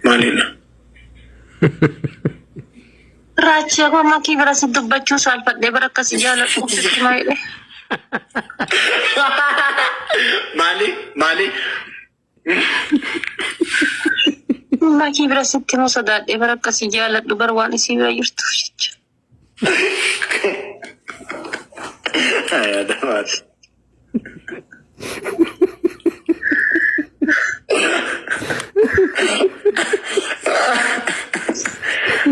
Maalidha? Raachii abbaa makii bira si dubbachuu saalfadhee bara akkasi jaaladhu sitti maayile. Maali? Maali? Makii bira sitti moo sodaadhee bara akkasi jaaladhu bara waan isii bira jirtuuf jecha. Ayaa damaati.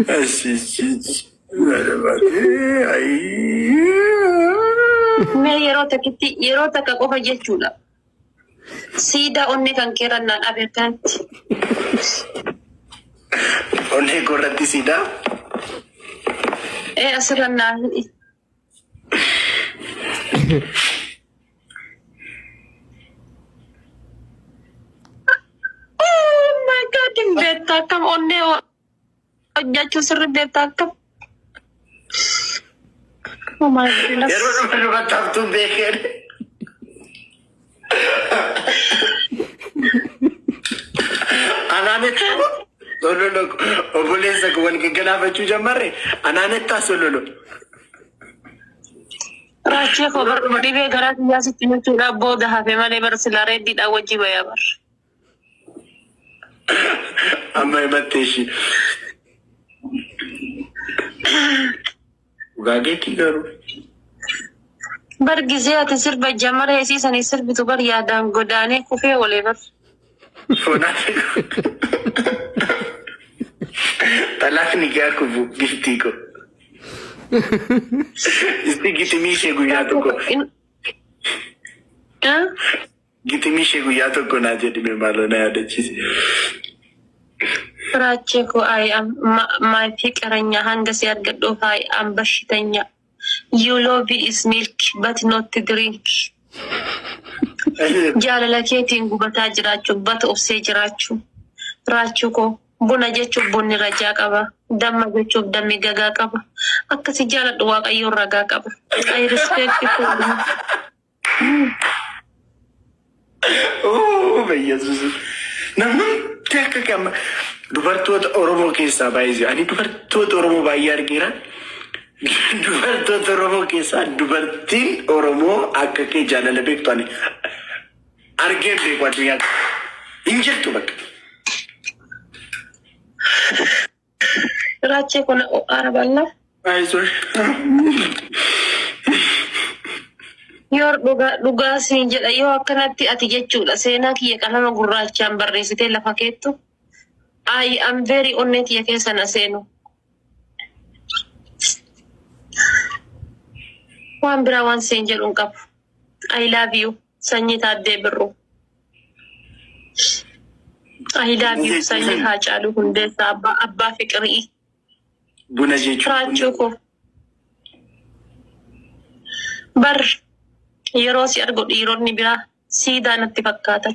Ashiishiichi. Ayaa damaati. Ayii. Mee yeroo takkitti yeroo takka qofa jechuudha. Siidaa onnee kan keerra na dhabe akkanatti. Onnee koo irratti siidaa. Ee asirra naa hidhi. Oh my god, hin beektu akkam onnee Hojjechuu sirri beektaa akka. Oh my goodness. Yeroo dhufan irratti haftuun beekeen. Anaanetti sololo obboleessa koo wal gaggalaafachuu jammarre anaanettaa sololo. Raachee koo bar dhibee garaa kiyyaa sitti jechuudhaaf booda hafe malee bar silaa reeddiidhaan wajjii bayaa bar. Amma himattee ishii. Dhugaa keetii garuu. Bar gizee ati sirba jamara isii sanii sirbitu bar yaadaan godaanee kufee olee bar. Sonaati. Talaaf ni gaa kubu giftii ko. Isti gitimii ishee guyyaa tokko. In- Ah? Gitimii ishee guyyaa tokko naa jedhime maaloo na yaadachiise. Firaachee koo I am my fiqiranya hanga si argadhuuf I am bashitanya you love is milk but not drink jaalala keetiin gubataa jiraachuuf but obsee jiraachuu raachuu koo buna jechuuf bunni rajaa qaba damma jechuuf dammi gagaa qaba akka si jaaladhu waaqayyoon ragaa qaba I respect you. Ooh, Yesuus. Namni hundi akka gama dubartoota Oromoo keessaa baay'ee ani dubartoota Oromoo baay'ee argeera. Dubartoota Oromoo keessaa dubartiin Oromoo akka kee jaalala beektu ani argeen beeku addunyaa kana. hin jirtu bakka. Raachee kun aara balla. Yoo dhugaa dhugaa siin jedha yoo akkanatti ati jechuudha seenaa kiyya qalama gurraachaan barreessitee lafa keettu I am very onnee tiyya keessa na seenu. Waan biraa waan siin jedhu hin qabu. I love you. Sanyii Taaddee Birruu. Ahidaa fi sanyii Haacaaluu Hundeessaa abbaa abbaa fiqirii. Buna jechuun Firaachuu koo. Bar yeroo si argu dhiironni biraa siidaa natti fakkaatan.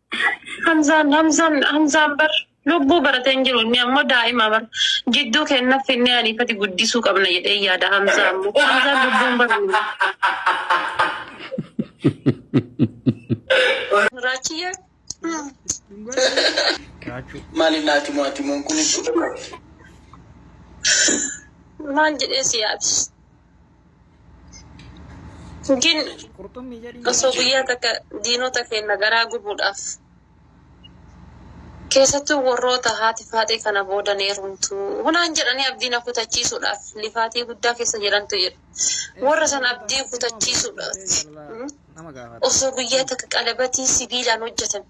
Hamzaan Hamzaan Hamzaan bar lubbuu baratee hin jiru inni ammoo daa'ima bar jidduu kenna finnee aniifati guddisuu qabna jedhee yaada Hamzaa ammoo Hamzaan lubbuun baru Raachiyyee Mali nati mwati mungu ni maal jedhee si yaadi Gin Qurxummii jedhi. osoo guyyaa takka diinota keenya garaa gubuudhaaf keessattuu warroota haati faaxee kana booda ni heerumtu hunaan jedhanii abdii na kutachiisuudhaaf lifaatii guddaa keessa jirantu jedhu. Warra sana abdii kutachiisuudhaaf Nama gaafata. osoo guyyaa takka qalabatii sibiilaan hojjetan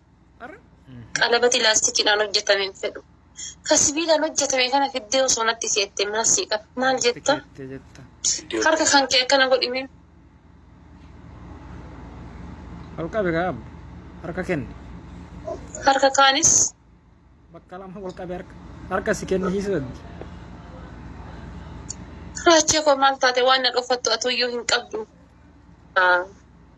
Qalabati laastikiidhaan hojjetame hin fedhu. Ka sibiilaan hojjetame kana fiddee osoo natti keette maal sii qaba? Maal jetta? Harka kan kee akkana godhime. Ol qabe gaa abbo. Harka kenni. Harka kaanis Bakka lama ol qabe harka. Harka si kenni hiisu daddi. raachee koo maal taate waan na dhokfattu atuyyuu hin qabdu. Ah,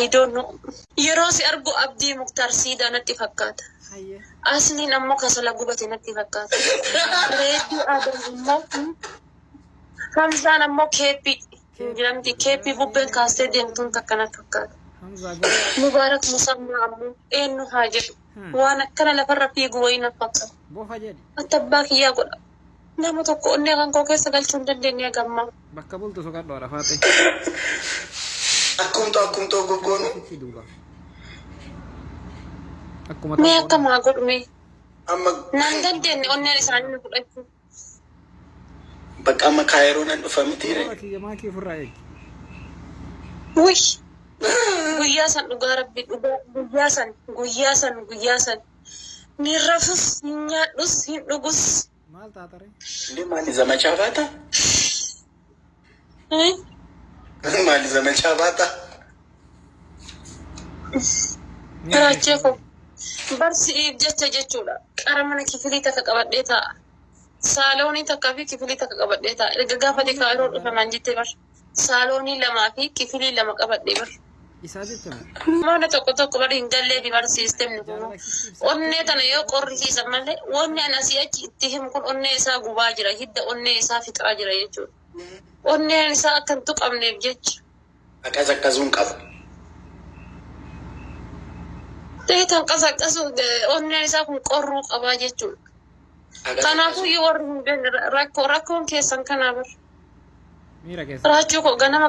I don't know. Yeroo si argu Abdii Muktaar Siidaa natti fakkaata. Hayyee. Asliin ammoo kasala gubate natti fakkaata. Reedduu Adam immoo hmm, Hamzaan ammoo keeppii hin jedhamti. Keeppii bubbeen kaastee deemtuun takka natti fakkaata. Hamzaa guddaa. Mubaarak Musammaa ammoo eenyu haa jedhu. Hmm. Waan akkana lafarra fiigu wayii natti fakkaata. Bofa jedhi. Attabbaa kiyyaa godha. Nama tokko onnee kan koo keessa galchuu hin dandeenye haga ammaa. Bakka bultu soqadhu haadha faaxee. Akkumtu akkumtu ogoggoonu. Itti duuba. Akkuma Mee akka maa godhu mee. Amma Naan dandeenye onneen isaanii nu fudhachuu. bakka amma kaayiroo nan dhufa miti Warra ree. kiyya maakii ofirraa eegi. Wih! Guyyaa san dhugaa rabbi dhugaa guyyaa san guyyaa san guyyaa san. Hin rafus, hin nyaadhus, hin dhugus. Maal taatare? Inde maali zamachaa baata? Inde maali zamachaa baata? Raachee koo. Bar si'iif jecha jechuudha. Qara mana kifilii takka qabadhee taa'a. Saaloonii takka fi kifilii takka qabadhee taa'a. Erga gaafa dikaayiroo dhufe maan jette bar. saaloonii lamaa fi kifilii lama qabadhe bar. Isaa jecha bar. Mana tokko tokko bar hin galleefi bar siistemni kun. Onnee tana yoo qorrisiisan malee wanni ani asii achi itti himu kun onnee isaa gubaa jira hidda onnee isaa fixaa jira jechuudha. Onneen isaa akka hin tuqamneef jecha. Qaqazaqqazuu hin qabu. Deetan qasaqasu onneen isaa kun qorruu qabaa jechuudha. Kanaafuu yoo warri hin beekne rakkoo rakkoon keessan kanaa bar. Miira keessa. Raachuu koo ganama